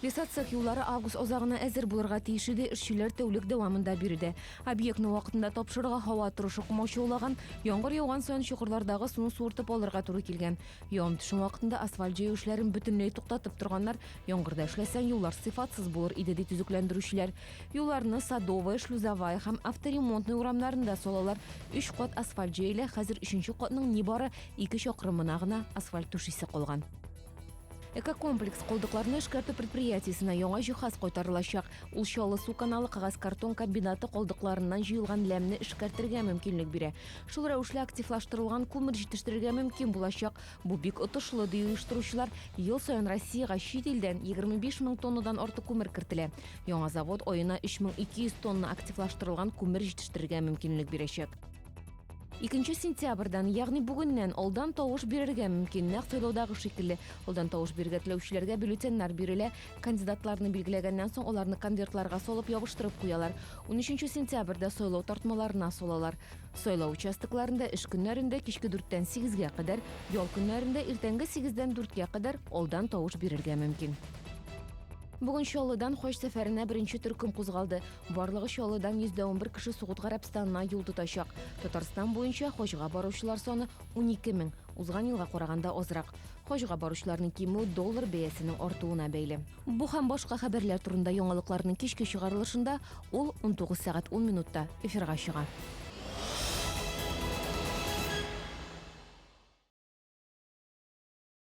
Лесоцех юллары август азагына әзер булырга тиеш иде, эшчеләр тәүлек дәвамында биредә. Объектны вакытында тапшырырга һава торышы комаучаулаган, яңгыр яуган саен чокырлардагы суны суыртып алырга туры килгән. Явым-төшем вакытында асфальт җәю эшләрен бөтенләй туктатып торганнар. Яңгырда эшләсәң, юллар сыйфатсыз булыр иде, ди төзекләндерүчеләр. Юлларны Садовая, Шлюзовая һәм Авторемонтная урамнарында салалар. Өч кат асфальт җәелә, хәзер өченче катның нибары ике чакрымына гына асфальт түшисе калган. Экокомплекс калдыкларны эшкәртү предприятиесенә яңа җиһаз кайтарылачак. Ул Чаллы су каналы кагаз картон комбинаты калдыкларыннан җыелган ләмне эшкәртергә мөмкинлек бирә. Шул рәвешле активлаштырылган күмер җитештерергә мөмкин булачак. Бу бик отышлы, ди оештыручылар. Ел саен Россиягә чит илдән 25 мең тоннадан артык күмер кертелә. Яңа завод аена 3200 тонна активлаштырылган күмер җитештерергә мөмкинлек бирәчәк. Икенче сентябрьдән, ягъни бүгеннән алдан тавыш бирергә мөмкин. Нәкъ сайлаудагы шикелле, алдан тавыш бирергә теләүчеләргә бюллетеньнар бирелә. Кандидатларны билгеләгәннән соң, аларны конвертларга салып ябыштырып куялар. Унөченче сентябрьдә сайлау тартмаларына салалар. Сайлау участокларында эш көннәрендә кичке дүрттән сигезгә кадәр, ял көннәрендә иртәнге сигездән дүрткә кадәр алдан тавыш бирергә мөмкин. Бүген Чаллыдан хаҗ сәфәренә беренче төркем кузгалды. Барлыгы Чаллыдан 111 кеше Сугуд Гарәбстанына юл тотачак. Татарстан буенча хаҗга баручылар саны 12 мең, узган елга караганда азрак. Хаҗга баручыларның кимү доллар бәясенең артуына бәйле. Бу һәм башка хәбәрләр турында яңалыкларның кичке чыгарылышында, ул 19 сәгать 10 минутта эфирга чыга.